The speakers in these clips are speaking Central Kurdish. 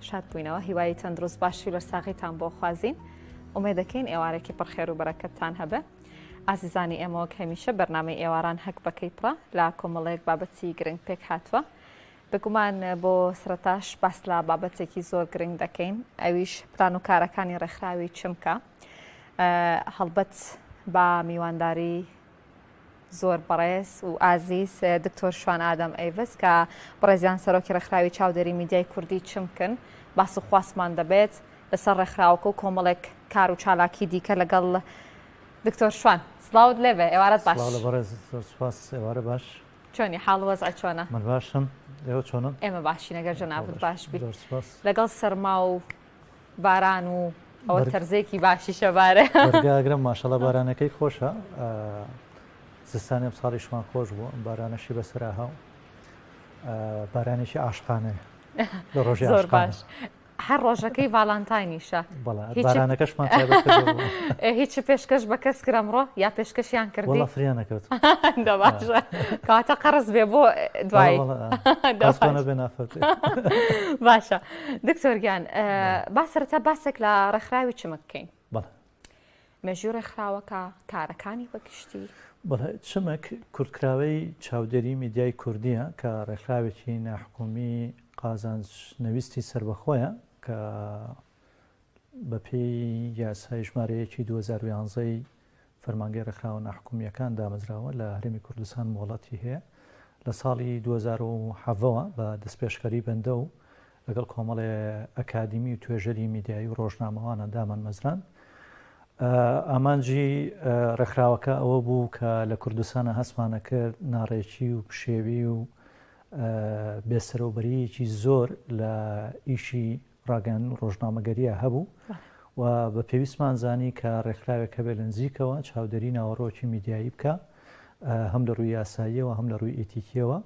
شاد بووینەوە هیوای تەندروست باشی لەرساغیتان بۆ خوازین ئومێ دەکەین ئێوارێکی پڕخێر و بەرەکەتتان هەبێ ئازیزانی ئێمەوە هەمیشە بەرنمەی ئێواران هەک بەکەی پڕە لا کۆمەڵەیەک بابەتی گرنگ پێک هاتووە بگومان بۆ سرتاش باس لە بابەتێکی زۆر گرنگ دەکەین ئەویش پلان و کارەکانی ڕێکخراوی چمکە هەڵبەت با میوانداری زۆر بەڕێز و ئازیز دکتۆر شوان ئادەم ئەیڤس کە بڕێزیان سەرۆکی ڕێکخراوی چاودێری میدیای کوردی چمکن باس و خواستمان دەبێت لەسەر ڕێکخراوەکە و کۆمەڵێک کار و چالاکی دیکە لەگەڵ دکتۆر شوان سلااوت لێبێ ئێوارەت باش بەڕێز زۆر سپاس ئێوارە باش چۆنی حاڵ وەز ئەچۆنە من باشم ئێوە چۆنم ئێمە باشی نەگەر جەنابوت باش بیت لەگەڵ سەرما و باران و ئەوە تەرزێکی باشی شەبارە گرم ماشەڵە بارانەکەی خۆشە زستانی ئەم ساڵیشمان خۆش بوو ئەم بارانەشی بەسرا هاو بارانێکی ئاشقانەیە لە ڕۆژی زۆر باش هەر ڕۆژەکەی ڤالانتاینیشە بارانەکەشمان هیچ پێشکەش بە کەس کرەمڕۆ یا پێشکەشیان کردی فریانەکەوت کاتە قەرز بێ بۆ دوای باشە دکتۆر گیان با سەرەتا باسێک لە ڕێکخراوی چمە بکەین بەڵێ مێژوی ڕێکخراوەکە کارەکانی بەگشتی بەڵێ چمەک کورتکراوەی چاودێری میدیای کوردیە کە ڕێکخراوێکی ناحکومی قازانج نەویستی سربەخۆیە کە بەپێی یاسای ژمارە یەکی دوو هەزار و یانزە ی فەرمانگەی ڕێکخراوە ناحکومییەکان دامەزراوە لە هەرێمی کوردستان مۆڵەتی هەیە لە ساڵی دوو هەزار و حەڤە وە بە دەستپێشخەری بەندە و لەگەڵ کۆمەڵێ ئەکادیمی و توێژەری میدیایی و ڕۆژنامەوانە دامانمەزراند ئامانجی ڕێکخراوەکە ئەوە بوو کە لە کوردستانە هەستمانە کرد ناڕێکی و پشێوی و بێسەرۆبەریەکی زۆر لە ئیشی ڕاگەیاندن ڕۆژنامەگەرییە هەبوو و بە پێویستمان زانی کە ڕێکخراوێک هەبێ لە نزیکەوە چاودێری ناوەڕۆکی میدیایی بکە هەم لە ڕووی یاساییەوە هەم لە ڕووی ئیتیکیەوە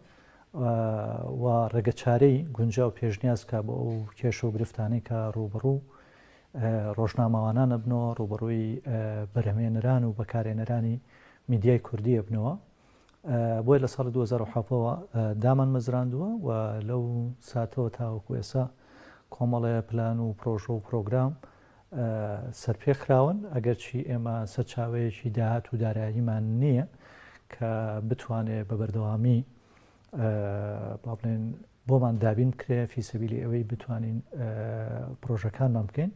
و ڕێگە چارەی گونجا و پێشنیاز کا بۆ ئەو کێشە و گرفتانەی کە ڕوبڕوو ڕۆژنامەوانانە بنەوە ڕوبڕووی بەرەمێنران و بەکارێنەرانی میدیای کوردیە بنەوە بۆیە لە ساڵی دوو هەزار و حەڤدە وە دامانمەزراندووە و لەو ساتەوە تاوەکو ئێسا کۆمەڵێ پلان و پرۆژە و پرۆگرام سەرپێ خراون ئەگەرچی ئێمە سەرچاوەیەکی داهات و داراییمان نییە کە بتوانێت بە بەردەوامی با بڵێن بۆمان دابین بکرێ فی سەبیلی ئەوەی بتوانین پرۆژەکانمان بکەین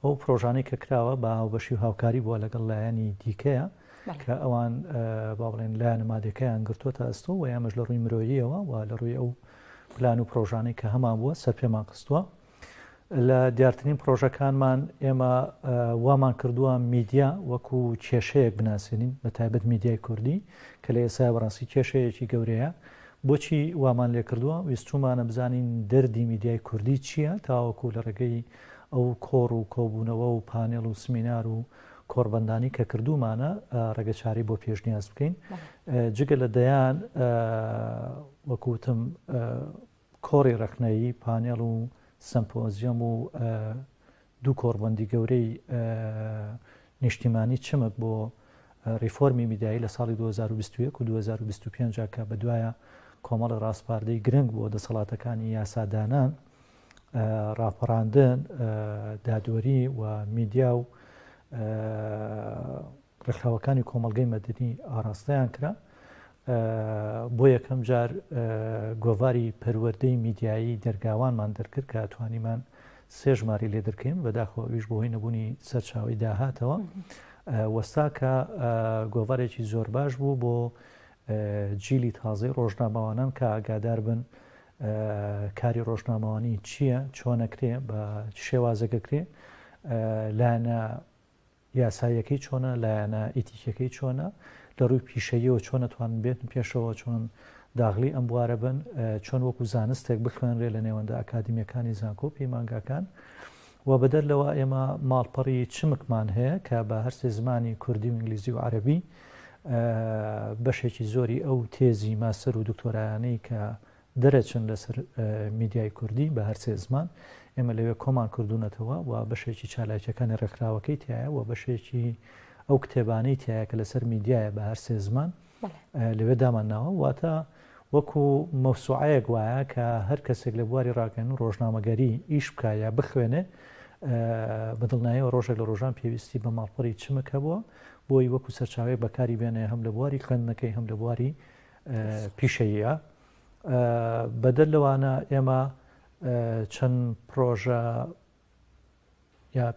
ئەو پرۆژانەی کە کراوە بە هاوبەشی و هاوکاری بووە لەگەڵ لایەنی دیکەیە کە ئەوان با بڵێن لایەنە مادەکەیان گرتووەتە ئەستۆ و یامەش لە ڕووی مرۆییەوە و لە ڕووی ئەو پلان و پرۆژانەی کە هەمان بووە سەر پێمان خستووە لە دیارترین پڕۆژەکانمان ئێمە وامان کردووە میدیا وەکو کێشەیەک بناسێنین بە تایبەت میدیای کوردی کە لە ئێسا بەڕاستی کێشەیەکی گەورەیە بۆچی وامان لێ کردووە ویستومانە بزانین دەردی میدیای کوردی چییە تاوەکو لە ڕێگەی ئەو کۆڕ و کۆبوونەوە و پانێڵ و سمینار و کۆڕبندانی کە کردومانە ڕێگەچاری بۆ پێشنیاز بکەین جگە لە دەیان وەکوتم کۆڕی ڕەخنەیی، پانێڵ و سەمپۆزیۆم و دوو کۆڕبەندی گەورەی نیشتیمانی چمک بۆ ڕیفۆرمی میدیایی لە ساڵی دوو هەزار و بیست و یەک و دوو هەزار و بیست و پێنج ە کە بەدوایە کۆمەڵی ڕاسپاردەی گرنگ بۆ دەسەڵاتەکانی یاسادانان، ڕاپەڕاندن، دادوەری و میدیا و ڕێکخراوەکانی کۆمەڵگەی مەدەنی ئاراستەیان کرا بۆ یەکەم جار گۆڤاری پەروەردەی میدیایی دەرگاوانمان دەرکرد کە توانیمان سێ ژماری لێ دەکەین بەداخۆ ئەویش بۆ هۆی نەبوونی سەرچاوی داهاتەوە وەستا کە گۆڤارێکی زۆر باش بوو بۆ جیلی تازەی ڕۆژنامەوانان کە ئاگادار بن کاری ڕۆژنامەوانی چییە چۆنەکرێ بە شێوازەکەکرێ لایەنە یاساییەکەی چۆنە، لایەنە ئیتیکیەکەی چۆنە، لە ڕووی پیشەییەوە چۆن ئەتوانن بێتن پێشەوە، چۆن داغلی ئەم بوارە بن، چۆن وەکو زانستێک بخوێنرێ لە نێوەندە ئەکادیمیەکانی زانکۆ و پەیمانگاکان و بەدەر لەوە ئێمە ماڵپەڕی چمکمان هەیە کە بە هەرسێ زمانی کوردی و ئینگلیزی و عەربی بەشێکی زۆری ئەو تێزی ماستەر و دکتۆرایانەی کە دەرەچن لەسەر میدیای کوردی بە هەر سێ زمان ئێمە لەوێ کۆمان کردوونەتەوە و بەشێکی چالاکیەکانی ڕێکخراوەکەی تایە و بەشێکی ئەو کتێبانەی تایە کە لەسەر میدیایە بە هەر سێ زمان لەوێ دامان ناوە واتە وەکو مەوسوعەیەک وایە کە هەر کەسێک لە بواری ڕاگەن و ڕۆژنامەگەری ئیش بکە یا بخوێنێ بەدڵنایەوە ڕۆژێک لە ڕۆژان پێویستی بە ماڵپەری چمک هەبووە بۆی وەکو سەرچاوێک بەکاری بێنێ هەم لە بواری خوێندنەکەی هەم لە بواری پیشەییە. بەدەر لەوانە ئێمە چەند پرۆژە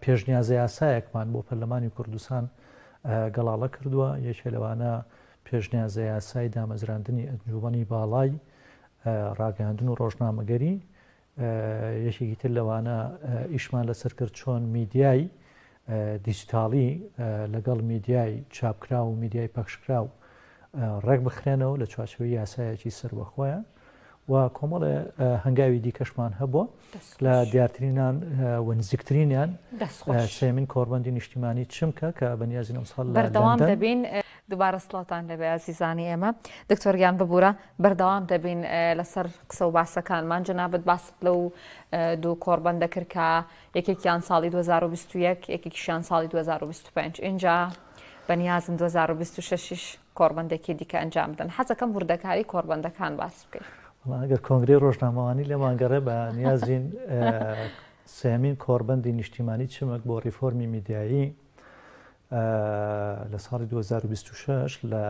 پێشنیازە یاسایەکمان بۆ پەرلەمانی کوردستان گەڵاڵە کردووە یەکێ لەوانە پێشنیازە یاسای دامەزراندنی ئەنجومنی باڵای ڕاگەاندن و ڕۆژنامەگەری یەکێکی تر لەوانە ئیشمان لەسەر کرد چۆن میدیای دیجیتاڵی لەگەڵ میدیای چاپکراو و میدیای پەخشکراو ڕێک بخرێنەوە لە چوارچەوەی یاسایەکی سەروەخۆیان و کۆمەڵێ هەنگاوی دیکەشمان هەبووە لە دیارترینان و نزیکترینیان سێمین کۆربەندی نیشتیمانی چمکە کە بەنیازین ئەمساڵ بەردەوام دەبین دوبارە سڵاوتان لێبێ ئازیزانی ئێمە. دکتۆر گیان ببورە بەردەوام دەبین لەسەر قسە و باسەکانمان جەنابت باست لەو دوو کۆڕبەندە کرد کە یەکێکیان ساڵی 2021 یەکێکیشیان ساڵی 2025 اینجا بەنیازم 2026 کۆڕبندێکی دیکە ئەنجام بدەن حەزەکەم وردەکاری کۆربندەکان باس بکەیت ئەگەر کۆنگری ڕۆژنامەوانی لە ماگەڕێ بە نیازین سێمین کۆربندی نیشتیمانی چمەک بۆ ڕیفۆرمی میدیایی لە ساڵی دوو هەزار و بیست و شەش لە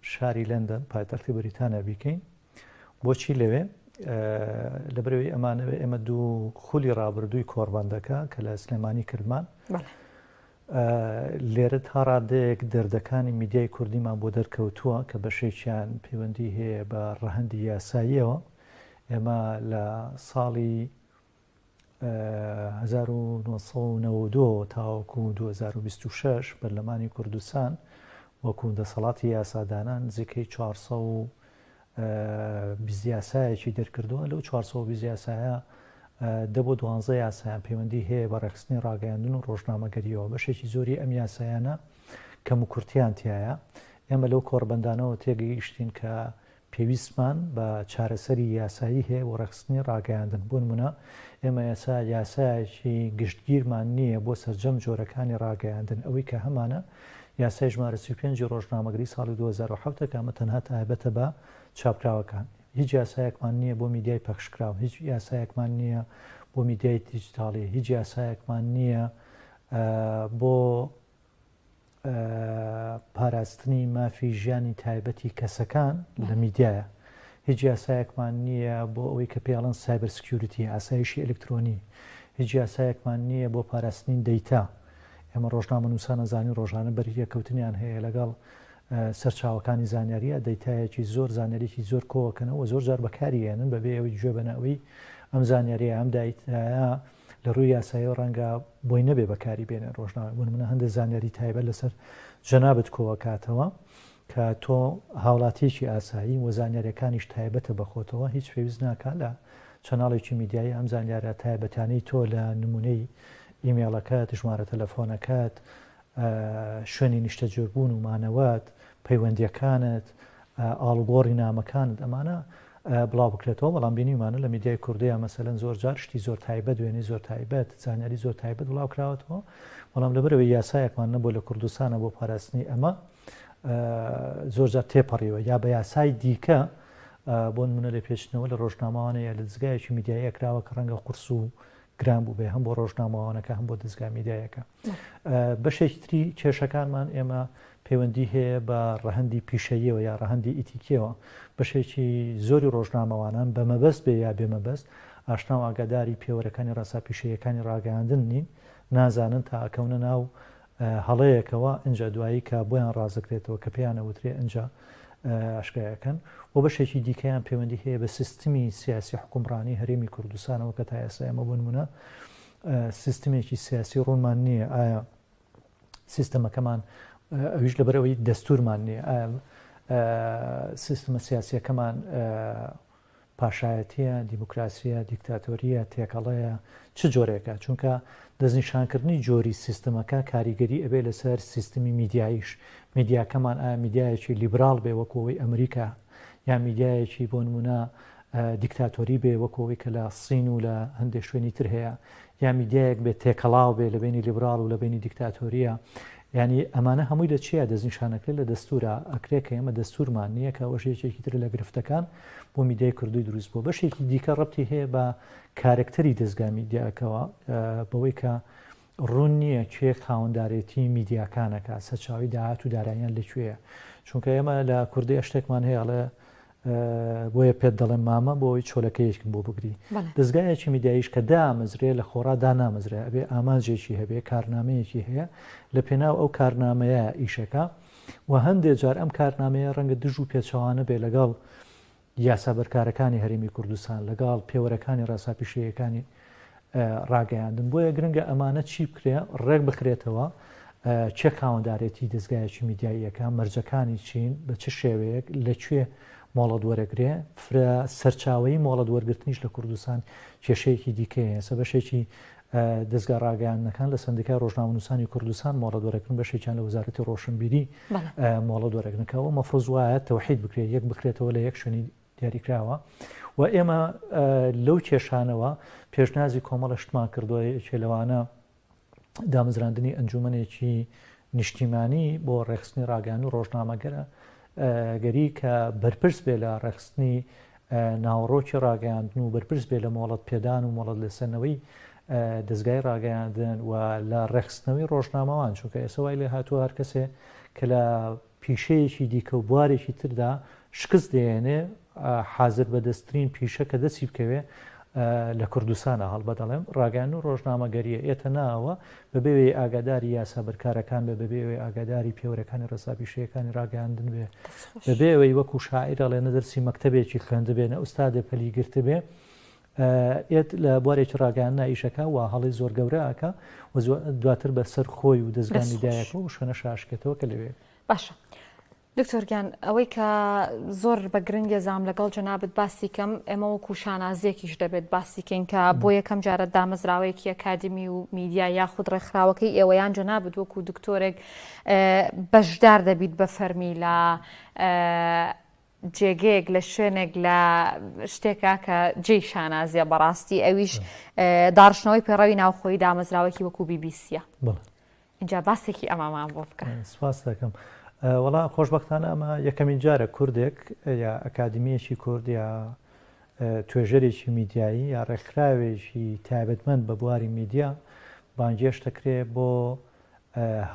شاری لەندەن پایتەختی بەریتانیا بیکەین بۆچی لەوێ لەبرەوەی ئەمانەوە ئێمە دوو خولی ڕابردووی کۆڕبندەکە کە لە سلێمانی کردمان لێرە تا ڕادەیەک دەردەکانی میدیای کوردیمان بۆ دەرکەوتووە کە بەشێکیان پەیوەندی هەیە بە ڕەهندی یاساییەوە ئێمە لە ساڵی هەزار و نۆ سەد و نەوەد و دوو تاوەکو دوو هەزار و بیست و شەش پەرلەمانی کوردستان وەکو دەسەڵاتی یاسادانان نزیکەی چوار سەد و بیست یاسایەکی دەرکردووە لەو چوار سەد و بیست یاسایە دە بۆ دوانزە یاسایان پەیوەندی هەیە بە ڕێکخستنی ڕاگەیاندن و ڕۆژنامەگەریەوە بەشێکی زۆری ئەم یاسایانە کەم و کورتیان تایە ئێمە لەو کۆڕبەندانەوە تێگەیشتین کە پێویستمان بە چارەسەری یاسایی هەیە بۆ ڕێکخستنی ڕاگەیاندن، بۆ نموونە ئێمە ئێستا یاسایەکی گشتگیرمان نییە بۆ سەرجەم جۆرەکانی ڕاگەیاندن، ئەوەی کە هەمانە یاسای ژمارە سی و پێنج ی ڕۆژنامەگری ساڵی دوو هەزار و حەوت ە کە ئەمە تەنها تایبەتە بە چاپکراوەکان، هیچ یاسایەکمان نییە بۆ میدیای پەخشکراو، هیچ یاسایەکمان نییە بۆ میدیای دیجیتاڵی، هیچ یاسایەکمان نییە بۆ. پاراستنی مافی ژیانی تایبەتی کەسەکان لە میدیایە هیچ یاسایەکمان نییە بۆ ئەوەی کە پێڵن سایبەر سکیوریتی ئاسایشی ئەلکترۆنی هیچ یاسایەکمان نییە بۆ پاراستنی دەیتا ئێمە ڕۆژنامە نووسانە زانانی ڕۆژانە بەریە کەوتنیان هەیە لەگەڵ سەرچاوەکانی زانیاریە دەیتایەکی زۆر زانەرێکی زۆر کۆکەنەوە زۆر جار بەکاریێنن بەبێ ئەوەی گوێ بەنەوەی ئەم زانیاریە ئەم دایتایە لە ڕووی یاسایەوە ڕەنگە بۆی نەبێ بەکاری بێنێ ڕۆژنامە بۆ نمونە هەندێ زانیاری تایبەت لەسەر جەنابت کۆ ئەکاتەوە کە تۆ هاوڵاتیەکی ئاسایی و زانیاریەکانیش تایبەتە بە خۆتەوە هیچ پێویست ناکا لە چەناڵێکی میدیایی ئەم زانیارە تایبەتانەی تۆ لە نمونەی ئیمێڵەکەت ژمارە تەلەفۆنەکەت شوێنی نیشتەجێبوون و مانەوەت، پەیوەندییەکانت، ئاڵوگۆڕی نامەکانت ئەمانە بڵاو بکرێتەوە، بەڵام بینیومانە لە میدیای کوردیا مەسەلەن زۆر جار شتی زۆر تایبەت، وێنەی زۆر تایبەت، زانیاری زۆر تایبەت بڵاو کراوەتەوە، بەڵام لەبەر ئەوەی یاسایەکمان نەبووە لە کوردستانا بۆ پاراستنی ئەمە زۆر جار تێپەڕیوە یا بە یاسای دیکە بۆ نمونە لە پێچنەوە لە ڕۆژنامەوانە یا لە دەزگایەکی میدیاییە کراوە کە ڕەنگە قورس و گران بوو بێ هەم بۆ ڕۆژنامەوانەکە هەم بۆ دەستگا میدایەکە بەشێکی تری کێشەکانمان ئێمە پەیوەندی هەیە بە ڕەهەندی پیشەییەوە یا ڕەهەندی ئیتیکیەوە بەشێکی زۆری ڕۆژنامەوانان بە مەبەست بێ یا بێ مەبەست ئاشنا و ئاگاداری پێوەرەکانی ڕاسا پیشەیەکانی ڕاگەیاندن نین نازانن تا ئەکەونە ناو هەڵەیەکەوە ئەجا دوایی کە بۆیان ڕازەکرێتەوە کە پێیانە وترێ ئەجا ئاشکایەکەن و بەشێکی دیکەیان پەیوەندی هەیە بە سیستمی سیاسی حکومڕانی هەرێمی کوردستانەوە کە تا ئێستا ئێمە بنمونە سیستمێکی سیاسی ڕوونمان نییە، ئایا سیستەمەکەمان، ئەویش لەبەر ئەوەی دەستوورمان نییە، ئایا سیستمە سیاسییەکەمان پاشایەتییە، دیموکراسییە، دیکتاتۆرییە، تێکەڵەیە، چ جۆرێکە؟ چونکە دەستنیشانکردنی جۆری سیستمەکە کاریگەری ئەبێ لەسەر سیستمی میدیاییش، میدیاکەمان ئایا میدیایەکی لیبراڵ بێ وەکوو ئەوەی ئەمریکا یا میدیایەکی بۆ نموونە دیکتاتۆری بێ وەکو ئەوەی کە لە سین و لە هەندێ شوێنی تر هەیە یا میدیایەک بێ تێکەڵاو بێ لە بینی لیبرال و لە بینی دیکتاتۆریە ینی ئەمانە هەمووی لە چیا دەستنیشانەکرێت لە دەستورە ئەکرێ کە ئێمە دەستورمان نییە کە ئەوەش یەکێکی تر لە گرفتەکان بۆ میدیای کوردی دروست بۆ بەشێکی دیکە ڕەتی هەیە بە کارکتەری دەستگا میدیاکەوە بەوەی کە ڕوون نییە کێ خاوەندارێتی میدیاکان ئەکات، سەرچاوەی داهات و داراییان لە کوێیە، چونکە ئێمە لە کوردی ئەشتێکمان هەیە ئەڵێ بۆیە پێت دەڵێم مامە بۆ ئەوەی چۆلەکەیەکم بۆ بگری، دەزگایەکی میدیاییش کە دامەزرێ لە خۆڕا دانامەزرێ ئەبێ ئامانجێکی هەبێ کارنامەیەکی هەیە لە پێناو ئەو کارنامەیە ئیشەکە و هەندێ جار ئەم کارنامەیە ڕەنگە دژ و پێچەوانە بێ لەگەڵ یاسا بەرکارەکانی هەرێمی کوردستان لەگەاڵ پێوەرەکانی ڕێسا پیشەییەکانی ڕاگەیاندن بۆیە گرنگە ئەمانە چی بکرێ ڕێک بخرێتەوە چێ خاوەندارێتی دەستگایەکی میدیاییەکە مەرجەکانی چین بە چ شێوەیەک لەکوێ مۆڵەت وەرەگرێ فرە سەرچاوی مۆڵەت وەرگرتنیش لە کوردستان کێشەیەکی دیکەیە سە بەشێکی دەزگا ڕاگەیاندنەکان لە سەندیکای ڕۆژنامەنووسانی کوردستان مۆڵەت وەرەگرن بەشێکیان لە وەزارەتی ڕۆشنبیری مۆڵەت وەرەگرنەکەەوە مەفرز وایە تەوحید بکرێت یەک بکرێتەوە لە یەک شوێنی دیاریکراوە و ئێمە لەو کێشانەوە پێشنازی کۆمەڵە شتمان کردووە یەکێ لەوانە دامەزراندنی ئەنجومەنێکی نیشتیمانی بۆ ڕێخستنی ڕاگەان و ڕۆژنامەگەرە گەری کە بەرپرس بێ لە ڕێکخستنی ناوەڕۆکی ڕاگەیاندن و بەرپرس بێ لە مۆڵەت پێدان و مۆڵەت لەسەرنەوەی دەستگای ڕاگەیاندن و لە ڕێخستنەوەی ڕۆژنامەوان چونکە ئێسە وای لێ هاتووە هەر کەسێ کە لە پیشەیەکی دیکە و بوارێکی تردا شکست دێنێ حازر بەدەستترین پیشە کە دەسی بکەوێ لە کوردستانا هەڵبەت ئەڵێم ڕاگەیاندن و ڕۆژنامەگەرییە ئێتە ناوە بەبێ وێ ئاگاداری یاسا بەرکارەکان بێ بەبێ وێ ئاگاداری پێوەرەکانی ڕێسا پیشەیەکانی ڕاگەیاندن بێ بەبێ ئەوەی وەکو شاعیر ئەڵێ نە دەرسی مەکتەبێکی خوێندبێ نە ئوستادێ پەلی گرتبێ ئێت لە بوارێکی ڕاگەیاندنا ئیشەکە و هەڵی زۆر گەورەکە و دواتر بەسەر خۆی و دەستگانی دایەکە و شوێنە شاشکێتەوە کە لەوێ باشە. دکتۆر گیان ئەوەی کە زۆر بە گرنگە زام لەگەڵ جەنابت باسی کەم ئێمە وەکو شانازیەکیش دەبێت باسی کەین کە بۆ یەکەم جارە دامەزراوەیەکی ئەکادمی و میدیا یاخود ڕێکخراوەکەی ئێوەیان جەنابت وەکو دکتۆرێک بەشدار دەبیت بە فەرمی لە جێگەیەک لە شوێنێک لە شتێکا کە جێی شانازیە بەڕاستی ئەویش داڕشنەوەی پێڕەوی ناوخۆی دامەزراوەکی وەکو بیبیسیە ئینجا باسێکی ئەمەمان بۆ بکە. سپاست دەکەم. وەڵا خۆشبەختانە ئەمە یەکەمین جارە کوردێک یا ئەکادیمیەکی کورد یا توێژەرێکی میدیایی یا ڕێکخراوێکی تایبەتمەند بە بواری میدیا بانگێش دەکرێ بۆ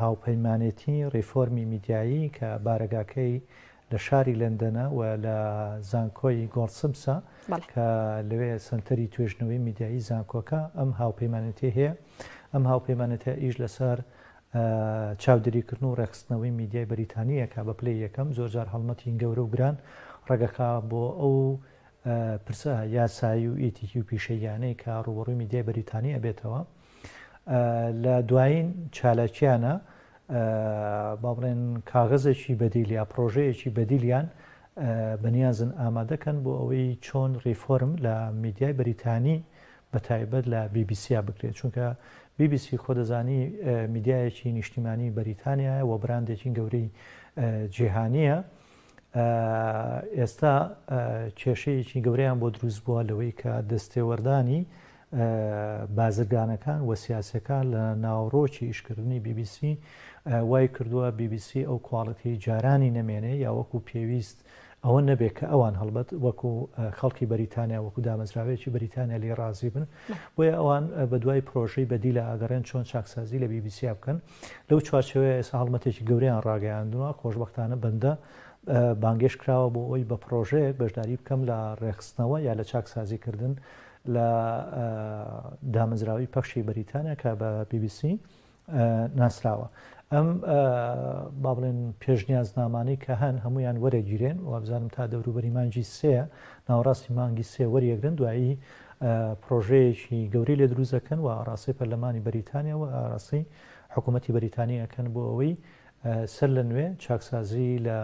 هاوپەیمانێتی ڕیفۆرمی میدیایی کە بارەگاکەی لە شاری لەندەنە و لە زانکۆی گۆڵدسمسە کە لەوێ سەنتەری توێژنەوەی میدیایی زانکۆکە ئەم هاوپەیمانەتیە هەیە ئەم هاوپەیمانەتە ئیش لەسەر چاودێریکردن و ڕێخستنەوەی میدیای بەریتانیەکە بە پلی یەکەم زۆرجار هەڵمەتین گەورە و گران ڕگەکە بۆ ئەو پرسە یاسایی و ئیتیکی و پیشەیانەی کە ڕوبڕوی میدیای بەریتانی ئەبێتەوە لە دوایین چالاکیانە با بڵێن کاغەزێکی بەدیل یا پرۆژەیەکی بەدیلیان بەنیازن ئامادەکەن بۆ ئەوەی چۆن ریفۆرم لە میدیای بریتانی بە تایبەت لە بیبیسیا بکرێت چونکە بیبیسی خۆ دەزانی میدیایەکی نیشتیمانی بەریتانیا و براندێکی گەورەی جیهانیە ئێستا کێشەیەکی گەورەیان بۆ دروست بووە لەوەی کە دەستێوەردانی بازرگانەکان و سیاسیەکان لە ناوەڕۆکی ئیشکردنی بی بی سی وای کردووە بی بی سی ئەو کواڵێتی جارانی نەمێنێ یا وەکو پێویست ئەوە نەبێ کە ئەوان هەڵبەت وەکو خەڵکی بەریتانیا وەکو دامەزراوەیەکی بەریتانیا لێ ڕازی بن بۆیە ئەوان بە دوای پرۆژەی بەدی لە ئاگەڕێن چۆن چاکسازی لە بی بی سیا بکەن لەو چوارچەوەیە ئێستا هەڵمەتێکی گەوریان ڕاگەیاندووە خۆشببختانە بەندە بانگێش کراوە بۆ ئەوی بە پرۆژەیەک بەشداری بکەم لە ڕێخستنەوە یا لە چاکسازیکردن لە دامەزراوەی پەخشی بەریتانیا کە بە بی بی سی ناسراوە ئەم با بڵێن پێشنیازنامانەی کە هەن هەمویان وەرەگیرێن وابزانم تا دەوروبەری مانگی سێ ناوەڕاستی مانگی سێ وەریەگرن دوایی پرۆژەیەکی گەوری لێ دروزەکەن و ئاراسی پەرلەمانی بەریتانیا و ئاراسی حکوومەتتی بەریتانیەکەن بۆ ئەوەی سەر لە نوێ چاکسازی لە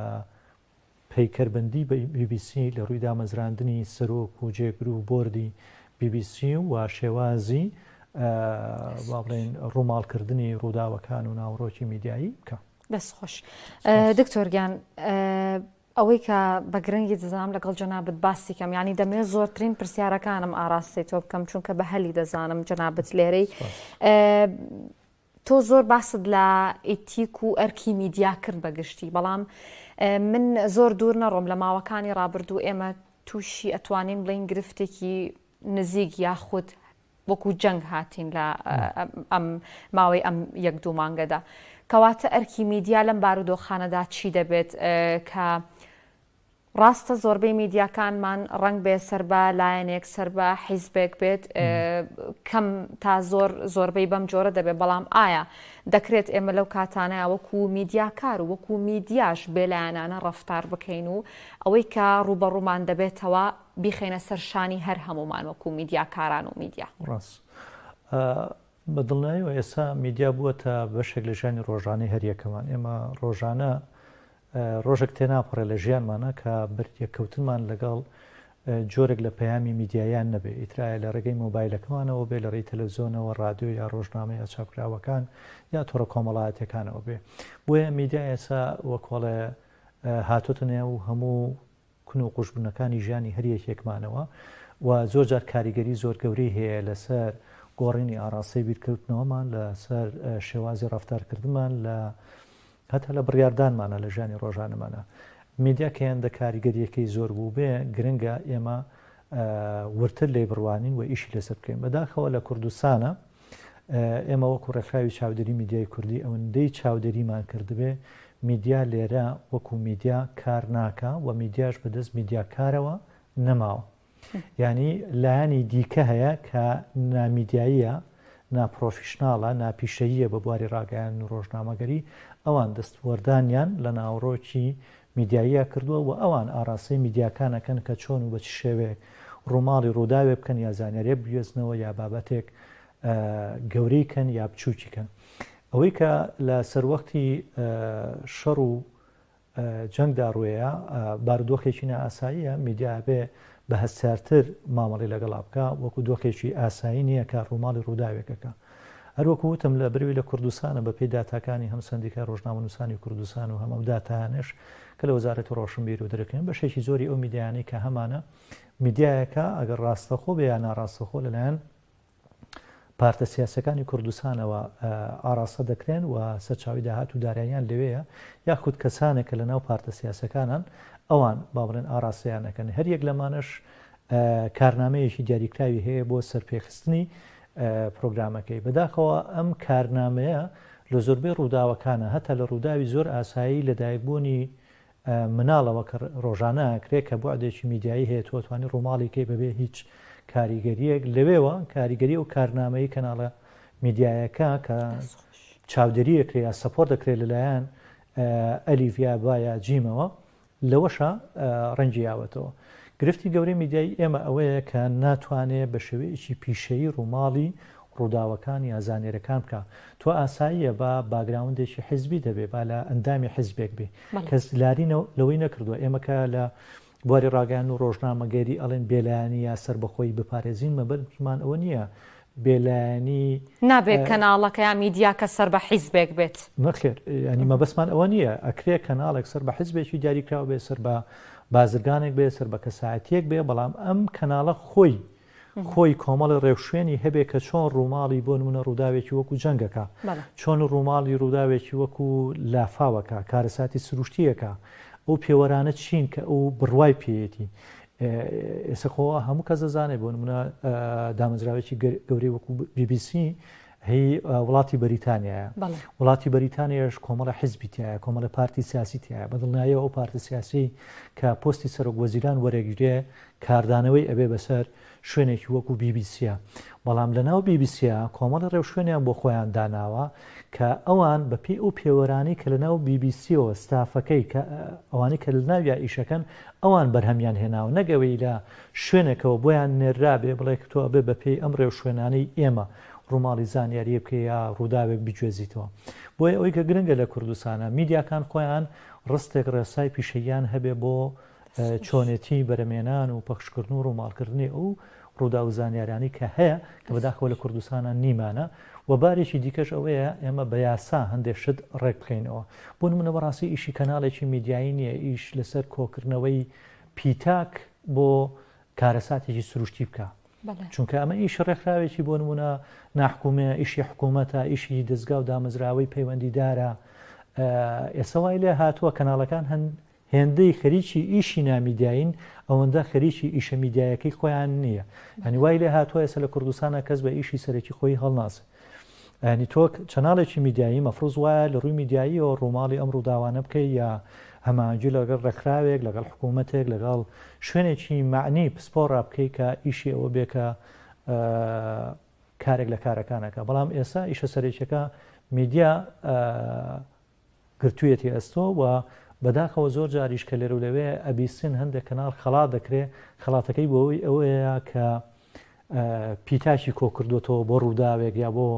پەیکەربەندی بی بی سی لە رووی دامەزراندنی سەرۆک و جێگر و بۆردی بی بی سی و شێوازی وا بڵێن رووماڵکردنی رووداوەکان و ناوەڕۆکی میدیایی بکا. دەست خۆش. دکتۆر گیان ئەوەی کە بە گرنگی دەزانم لەگەڵ جەنابت باسی کەم یانی دەمێ زۆرترین پرسیارەکانم ئاراستی تۆ بکەم چونکە بە هەلی دەزانم جەنابت لێرەی تۆ زۆر باست لە ئیتیک و ئەرکی میدیا کرد بە گشتی بەڵام من زۆر دوور نەڕۆم لە ماوەکانی ڕابردوو ئێمە تووشی ئەتوانین بڵین گرفتێکی نزیک یاخود وەکو جەنگ هاتین لە ئەم ماوەی ئەم یەک دوو مانگەدا کەواتە ئەرکی میدیا لەم بارودۆخانەدا چی دەبێت کە ڕاستە زۆربەی میدیاکانمان ڕەنگ بێ سەر بە لایەنێک سەر بە حیزبێک بێت کەم تا زۆر زۆربەی بەم جۆرە دەبێت بەڵام ئایا دەکرێت ئێمە لەو کاتانە وەکو میدیاکار و وەکو میدیاش بێلایەنانە ڕفتار بکەین و ئەوەی کە ڕوبەڕوومان دەبێتەوە بیخینە سەرشانی هەر هەمومان وەکو میدیاکاران و میدیا ڕاست. بە دڵنایەوە ئێستا میدیا بووە تا بەشێک لە ژانی ڕۆژانەی هەریەکەمان ئێمە ڕۆژانە ڕۆژێک تێناپەڕێ لە ژیانمانا کە بەریەککەوتنمان لەگەڵ جۆرێک لە پەیامی میدیاییان نەبێ، ئیتر ئایا لە ڕێگەی مۆبایلەکەمانەوە بێ، لە ڕێی تەلەفزیۆنەوە، ڕادیۆ یا ڕۆژنامە یا چاپکراوەکان یا تۆڕە کۆمەڵایەتییەکانەوە بێ. بۆیە میدیا ئێستا وەکوڵێ هاتۆتە نێو هەموو کون و قوژبنەکانی ژیانی هەر یەکێکمانەوە و زۆر جار کاریگەری زۆر گەورەی هەیە لەسەر گۆڕینی ئاراستەی بیرکەوتنەوەمان لەسەر شێوازی ڕەفتارکردمان لە هەتا لە بڕیاردانمانە لە ژیانی ڕۆژانەمانە میدیا کە هێندە کاریگەریەکەی زۆر بوو بێ گرنگە ئێمە ورتر لێ بڕوانین و ئیشی لەسەر بکەین بەداخەوە لە کوردستانە ئێمە وەکو ڕێکخراوی چاودێری میدیای کوردی ئەوەندەی چاودێریمان کردبێ میدیا لێرە وەکو میدیا کار ناکا و میدیاش بەدەست میدیاکارەوە نەماوە ینی لایانی دیکە هەیە کە نامیدیاییە ناپرۆفیشنناڵە ناپیشەییە بە بواری ڕاگەیان و ڕۆژنامەگەری ئەوان دەستوەردانیان لە ناوڕۆکی میدیاییە کردووە و ئەوان ئاڕاستەی میدیاکان ئەکەن کە چۆن و بە چ شێوەیەک ڕووماڵی ڕووداوێ بکەن یا زانیاریێ بگوێزنەوە یا بابەتێک گەورەی کەن یا بچووکی کەن ئەوەی کە لە سەروەختی شەڕ و جەنگدا ڕوەیە بارودۆخێکی نائاساییە میدیا بێ بە هەستارتر مامەڵی لەگەڵا بکە وەکو دۆخێکی ئاسایی نییە کە ڕووماڵی ڕووداوێکەکە هەروەکو وتم لە بروی لە کوردستانە بە پێی داتاکانی هەم سەندیکای رۆژنامەنووسانی کوردستان و هەم ئەو داتایانەش کە لە وەزارەتی رۆشنبیر و درکن بەشێکی زۆری ئەو میدیایانەی کە هەمانە میدیایەکە ئەگەر راستەخۆ بێ یا ناراستەخۆ لەلایەن پارتە سیاسەکانی کوردستانەوە ئاراستە دەکرێن و سەرچاوی داهات و داراییان لەوەیە یاخود کەسانێکە لە ناو پارتە سیاسەکانان ئەوان با بڵێن ئاراستەیانەکەن هەر یەک لەمانش کارنامەیەکی دیاریکراوی هەیە بۆ سەرپێخستنی پرۆگرامەکەی. بەداخەوە ئەم کارنامەیە لە زۆربەی ڕووداوەکانە، هەتا لە ڕووداوی زۆر ئاسایی لەدایکبوونی مناڵەوە کە ڕۆژانە ئەکرێت کە بوعدێکی میدیایی هەیە تۆ ئەتوانی ڕووماڵی کەی بەبێ هیچ کاریگەریەک لەوێوە کاریگەری و کارنامەی کەناڵە میدیایەکە کە چاودێری ئەکرێ یا سەپۆر دەکرێت لەلایەن ئەلیڤیا با یا جیمەوە لەوەشە ڕەنگی یاوەتەوە. گرفتی گەورەی میدیایی ئێمە ئەوەیە کە ناتوانێ بە شێوەیەکی پیشەیی ڕووماڵی ڕووداوەکان یا زانیرەکان بکا. تۆ ئاساییە با باگراوندێکی حیزبیت هەبێ، با لە ئەندامی حیزبێک بی. کەس لاری لەوەی نەکردووە ئێمە کە لە بواری ڕاگەیاندن و ڕۆژنامەگەری ئەڵێن بێلایەنی یا سەربەخۆیی بپارێزین مەبەستمان ئەوە نییە بێلایەنی. نابێ کەناڵەکە یا میدیاکە سەر بە حیزبێک بێت. نەخێر یانی مەبەستمان ئەوە نییە ئەکرێ کەناڵێک سەر بە حیزبێکی دیاریکراو بێ سەر بە بازرگانێک بێ سەر بە کەسایەتیەک بێ بەڵام ئەم کەناڵە خۆی خۆی کۆمەڵی ڕێوشوێنی هەبێ کە چۆن ڕووماڵی بۆ نمونە ڕووداوێکی وەکو جەنگەکە چۆن ڕووماڵی ڕووداوێکی وەکو لافاوەکە کارەساتی سروشتیەکە ئەو پێوەرانە چین کە ئەو بڕوای پێیەتی ئێسە خۆ هەموو کەس دەزانێت بۆ نمونە دامەزراوێکی گەورەی وەکو BBC هی وڵاتی بەریتانیایە وڵاتی بەریتانیش کۆمەڵە حزبی تایە کۆمەڵە پارتی سیاسی تایە بەدڵنایە ئەو پارتە سیاسی کە پستی سەرۆک وەزیران وەرەگیرێ کاردانەوەی ئەبێ بەسەر شوێنێکی وەکو بیبیسیە بەڵام لە ناو بیبیسیە کۆمەڵە ڕێو شوێنیان بۆ خۆیان داناوە کە ئەوان بەپی ئەو پێوەرانی کە لە ناو بیبیسیەوە ستافەکەی کە ئەوانی کە لە ناویا ئیشەکەن ئەوان بەرهەمیان هێناوە نەک ئەوەی لە شوێنێکەوە بۆیان نێررابێ بڵێ کە تۆ ئەبێ بە پێی ئەم ڕێوشوێنانەی ئێمە ڕووماڵی زانیارییەک بکەی یا ڕووداوێک بگوێزیتەوە بۆیە ئەوەی کە گرنگە لە کوردستانە میدیاکان خۆیان ڕستێک ڕێسای پیشەییان هەبێ بۆ چۆنێتی بەرەمێنان و پەخشکردن و ڕووماڵکردنی ئەو ڕووداو و زانیارانەی کە هەیە کە بەداخەوە لە کوردستانا نیمانە و بارێکی دیکەش ئەوەیە ئێمە بە یاسا هەندێک شت ڕێک بکەینەوە بۆ نموونە بەڕاستی ئیشی کەناڵێکی میدیایی نییە ئیش لەسەر کۆکردنەوەی پیتاک بۆ کارەساتێکی سروشتی بکە چونکە ئەمە ئیش ڕێکخراوێکی بۆ نمونە ناحکومێ ئیشی حکوومەتە ئیشی دەستگا و دامەزراوەی پەیوەندیدارە ئێستا وای لێ هاتووە کەناڵەکان هەن هێندەی خەریکی ئیشی نامیدیاین ئەوەندە خەریکی ئیشە میدیایەکەی خۆیان نییە ئەنی وای لێ هاتووە ئێسە لە کوردستانە کەس بە ئیشی سەرەکی خۆی هەڵناسێ ئەنی تۆک چەناڵێکی میدیایی مەفرز وایە لە ڕووی میدیاییەوە ڕووماڵی ئەم ڕووداوانە بکەی یا هەمانجی لەگەڵ ڕێکخراوێک لەگەڵ حکوومەتێک لەگەڵ شوێنێکی معنی پسپۆ ڕابکەی کە ئیشی ئەوە بێکە کارێک لە کارەکانەکە بەڵام ئێستا ئیشە سەرێکەکە میدیا گرتویەتی ئەستۆ و بەداخەوە زۆر جاریش کە لێرەو لەوێ ئەبیستین هەندێک کەناڵ خەڵات دەکرێ خەڵاتەکەی بۆوەی ئەوەیە کە پیتاکی کۆکردوەتەوە بۆ ڕووداوێک یا بۆ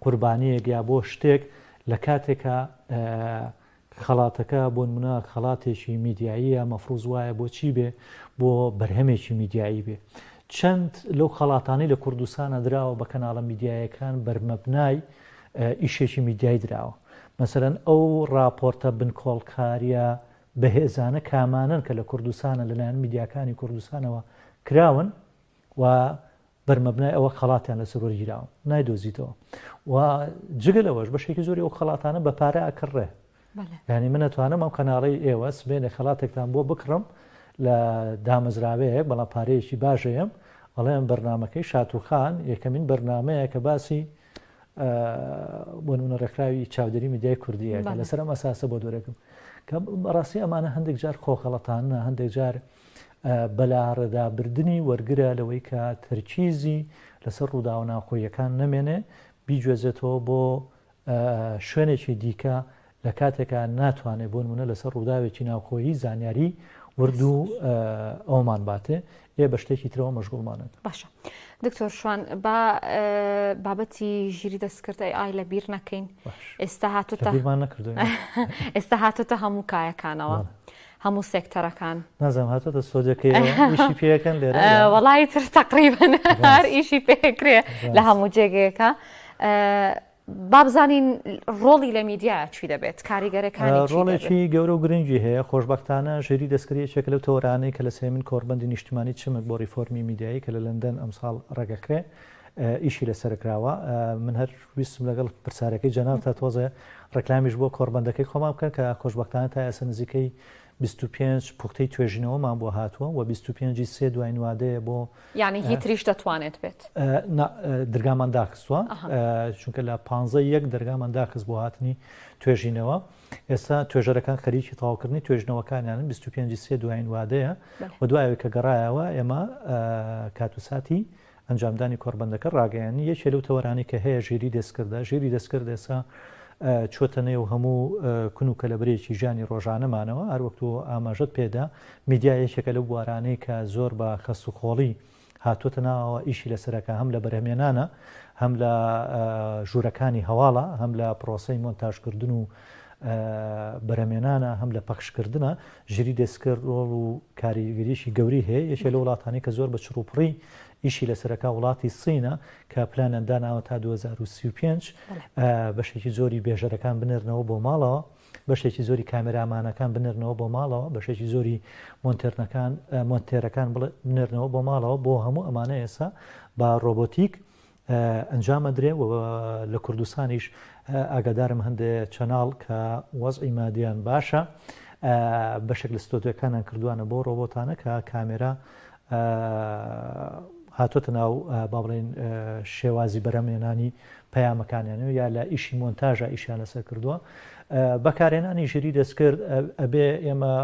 قوربانیەک یا بۆ شتێک لە کاتێکە خەڵاتەکە بۆن منە خەڵاتێکی میدیاییە مەفروز وایە بۆ چی بێ بۆ بەرهەمێکی میدیایی بێ چەند لەو خەڵاتانی لە کوردستانە دراوە بە کەناڵە میدیایەکان بەرمەبنای ئیشێکی میدیایی دراوە. مەسەلەن ئەو ڕاپۆرتە بنکۆڵکارییە بەهێزانە کامانەن کە لە کوردستانە لەلایەن میدیاکانی کوردستانەوە کراون و بەرمەبنای ئەوە خەڵاتیان لەسەر وەرگیراوە نایدۆزیتەوە و جگە لەوەش بەشێکی زۆری ئەو خەڵاتانە بە پارە ئەکڕێ ینی من نتوانم ئەم کەناڵی ئێوە سبێنێ خەڵاتێکتان بۆ بکڕم لە دامەزراوەیەک بەڵام پارەیەکی باشەیەم ئەڵێم بەرنمەکەی شاتوخان یەکەمین بەرنمەیە کە باسی بۆ نمونە ڕێکخراوی چاودێری میدیای کوردیە کە لەسەر ئەم ئەساسە بۆ دورێکم کە بەڕاستی ئەمانە هەندێک جار خۆخەڵەتانە هەندێک جار بەلاڕێدابردنی وەرگرە لەوەی کە تەرکیزی لەسەر ڕووداوە ناوخۆیەکان نەمێنێ بیگوێزێتەوە بۆ شوێنێکی دیکە لە کاتێکا ناتوانێ بۆنمونە لەسەر ڕووداوێکی ناوخۆیی زانیاری ورد و ئەومان باتێ ئێ بە شتێکی ترەوە مەشغوڵمانێت باشە دکتۆر شوان با بابەتی ژیری دەستکردی ئای لە بیر نەکەین ئێستا هاتوتە ئێستا هاتوتە هەموو کایەکانەوە. هەموو سێکتەرەکان نازم هاتۆتە سۆدەکەیشی پێەکەن لێرە وڵی تر تقریبن هەر ئیشی پێکرێ لە هەموو جێگەیەەکە با بزانین ڕۆڵی لە میدیا چی دەبێت کاریگەرەکانی چی دەبێت؟ ڕۆڵێکی گەورە و گرنگی هەیە خۆشبەختانە ژیری دەستکرد یەکێکە لەو تەوەرانەی کە لە سێیەمین کۆڕبەندی نیشتمانی چمک بۆ ڕیفۆرمی میدیایی کە لە لەندەن ئەمساڵ ڕێگەکرێ ئیشی لەسەر کراوە من هەر ویستم لەگەڵ پرسارەکەی جەناب تا تۆزێ ڕێکلامیش بۆ کۆڕبەندەکەی خۆمان بکەن کە خۆشببختانە تا ئێستا نزیکەی 25 پوختەی توێژینەوەمان بۆ هاتووە و 25 سێ دوای نوادەیە بۆ یانی هی تریش دەتوانێت بێت؟ نا درگامان داخستووە چونکە لە پانزە یەک دەرگامان داخست بۆ هاتنی توێژینەوە ئێستا توێژەرەکان خەریکی تاوکردنی توێژنەوەکانیان 25 سێ دوایین وادەیە و دوایەوەی کە گەڕایەوە ئێمە کات و ساتی ئەنجامدانی کۆربەندەکە ڕاگەیانی یەکێ لەو تەوەرانی کە هەیە ژیری دەستکردە ژیری دەستکرد ئێستا چۆتە نێو هەموو کون و کەلەبرێکی ژانی ڕۆژانەمانەوە هەروەکتەوە ئاماژت پێدا میدیا یەکێکە لەو بوارانەی کە زۆر بە کەستوخۆڵی هاتووەتە ناوەوە، ئیشی لەسەرەکە هەم لە بەرهەمێنانە، هەم لە ژوورەکانی هەواڵە، هەم لە پرۆسەی مۆنتاژکردن و بەرەمێنانە، هەم لە پەخشکردنە، ژیری دێسکر ڕۆڵ و کاریگەریی گەورەی هەیە، یەکێ لەو وڵاتانەی کە زۆر بە چڕوپڕی ئیشی لەسەرەکە وڵاتی سینە کە پلانیان داناوە تا دوو هەزار و سی و پێنج بەشێکی زۆری بێژەرەکان بنێرنەوە بۆ ماڵەوە. بەشێکی زۆری کامێرامانەکان بنێرنەوە بۆ ماڵەوە، بەشێکی زۆری مۆنتێرنەکان مۆنتێرەکان بڵێ بنێرنەوە بۆ ماڵەوە، بۆ هەموو ئەمانە ئێستا بە ڕۆبۆتیک ئەنجام ئەدرێ و لە کوردستانیش ئاگادارم هەندێ چەناڵ کە وەزعی مادیان باشە بەشێک لە ستۆدیۆکانیان کردوانە بۆ ڕۆبۆتانە کە کامێرا هاتۆتە ناو با بڵێن شێوازی بەرەمێنانی پەیامەکانیان و یا لە ئیشی مۆنتاژا ئیشیان لەسەر کردووە بەکارهێنانی ژیری دەستکرد ئەبێ ئێمە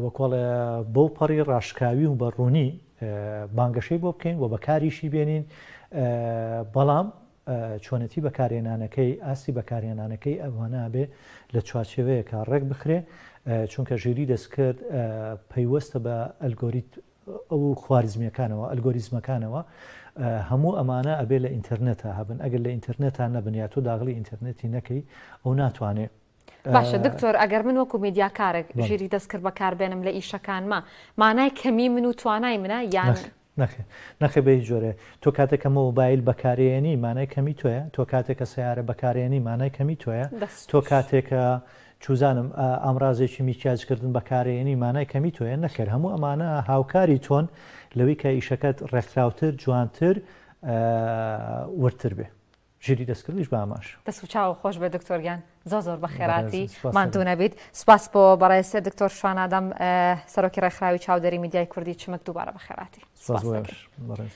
وەکۆڵێ بەو پەڕی ڕاشکاوی و بەڕوونی بانگەشەی بۆ بکەین و بەکاریشی بێنین بەڵام چۆنەتی بەکارێنانەکەی ئاستی بەکارێنانەکەی ئەوانابێ لە چوارچێوەیەکە ڕێک بخرێ چونکە ژێری دەستکرد پەیوەستە بە ئەلگۆریت و خواریزمیەکانەوە ئەلگۆریزمەکانەوە هەموو ئەمانە ئەبێ لە ئینتەرنێتا هەبن ئەگەر لە ئینتەرنێتا نەبن یا تۆ داغڵی ئینتەرنێتی نەکەی ئەو ناتوانێ باشە دکتۆر ئەگەر من وەکو میدیاکارێک ژیری دەستکرد بەکار بێنم لە ئیشەکانمە مانای کەمی من و توانای منە یان نەخێ نەخێ بە هیچ جۆرێ تۆ کاتێکە مۆبایل بەکارێنی مانای کەمی تۆیە تۆ کاتێکە سیارە بەکارێنی مانای کەمی تۆیە تۆ کاتێکە چوزانم ئامرازێکی میکیاج کردن بەکارێنی مانای کەمی تۆیە نەخێر هەموو ئەمانە هاوکاری تۆن لەوی کە ئیشەکەت ڕێکخراوتر جوانتر وردتر بێ ژیری دەستکردیش بە ئاماش دەست و چاو خۆش بێ دکتۆر گیان زۆر زۆر بە خێراتی ماندوو نەبیت سپاس بۆ بەڕێسێ دکتۆر شوانادەم سەرۆکی ڕێکخراوی چاودێری میدیای کوردی چمک دووبارە بە خێراتی سپاس بەڕێز.